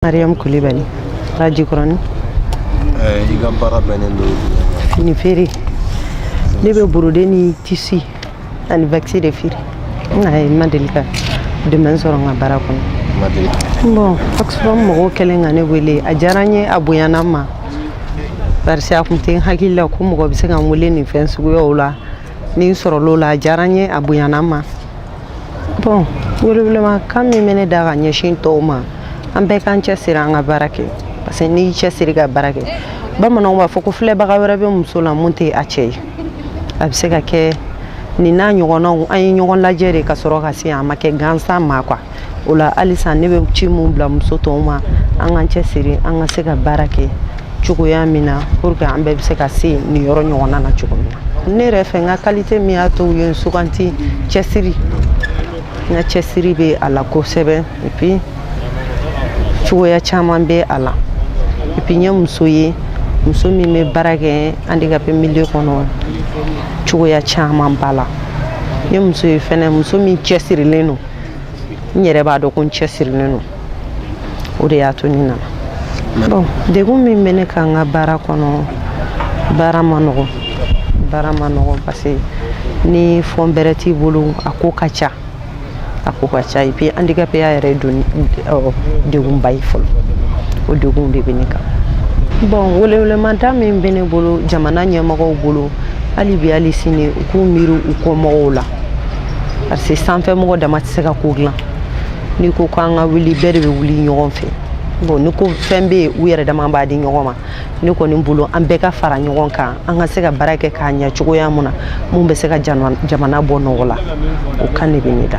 Mariam Kulibali, Para Jikɔrɔni. Eh, I ka baara bɛnnen don fini feere ne bɛ borode ni tisi ani vakisi de feere ayi n ma deli ka dɛmɛ sɔrɔ n ka baara kɔnɔ bɔn oxfam mɔgɔw kɛlen ka ne wele a diyara n ye a bonyana n ma barisi a kun tɛ n hakili la ko mɔgɔ bɛ se ka n wele nin fɛn suguyaw la ni n sɔrɔl'o la a diyara n ye a bonyana n ma bɔn welewelema kan min bɛ ne da ka ɲɛsin tɔw ma an bɛɛ k'an cɛsiri an ka baara kɛ parce que n'i y'i cɛsiri ka baara kɛ bamananw b'a fɔ ko filɛbaga wɛrɛ bɛ muso la mun tɛ a cɛ ye a bɛ se ka kɛ nin n'a ɲɔgɔnnaw an ye ɲɔgɔn lajɛ de ka sɔrɔ ka se a ma kɛ gansan ma kuwa o la halisa ne bɛ ci min bila muso tɔw ma an k'an cɛsiri an ka se ka baara kɛ cogoya min na pour que an bɛɛ bɛ se ka se nin yɔrɔ ɲɔgɔnna na cogo min na ne yɛrɛ fɛ n ka kalite min y'a to u ye n sugandi cɛsiri n ka cɛsiri bɛ a la kosɛbɛ epi cogoya caman bɛ a la epi n ye muso ye muso min bɛ baara kɛ handicapé milieu kɔnɔ cogoya caman b'a la n ye muso ye fɛnɛ muso min cɛsirilen don n yɛrɛ b'a dɔn ko n cɛsirilen don o de y'a to ne nana bon degun min bɛ ne kan n ka baara kɔnɔ baara man nɔgɔ baara man nɔgɔ parce que ni fɔn bɛrɛ t'i bolo a ko ka ca a ko ka ca et puis handicapéya yɛrɛ don degunba ye fɔlɔ o degunw de bɛ ne kan bon welewelemada min bɛ ne bolo jamana ɲɛmɔgɔw bolo hali bi hali sini u k'u miiri u kɔmɔgɔw la parce que sanfɛmɔgɔ dama tɛ se ka ko dilan n'i ko k'an ka wuli bɛɛ de bɛ wuli ɲɔgɔn fɛ bon ni ko fɛn bɛ yen u yɛrɛ dama b'a di ɲɔgɔn ma ne kɔni bolo an bɛɛ ka fara ɲɔgɔn kan an ka se ka baara kɛ k'a ɲɛ cogoya mun na mun bɛ se ka jamana bɔ nɔgɔ la o kan de bɛ ne da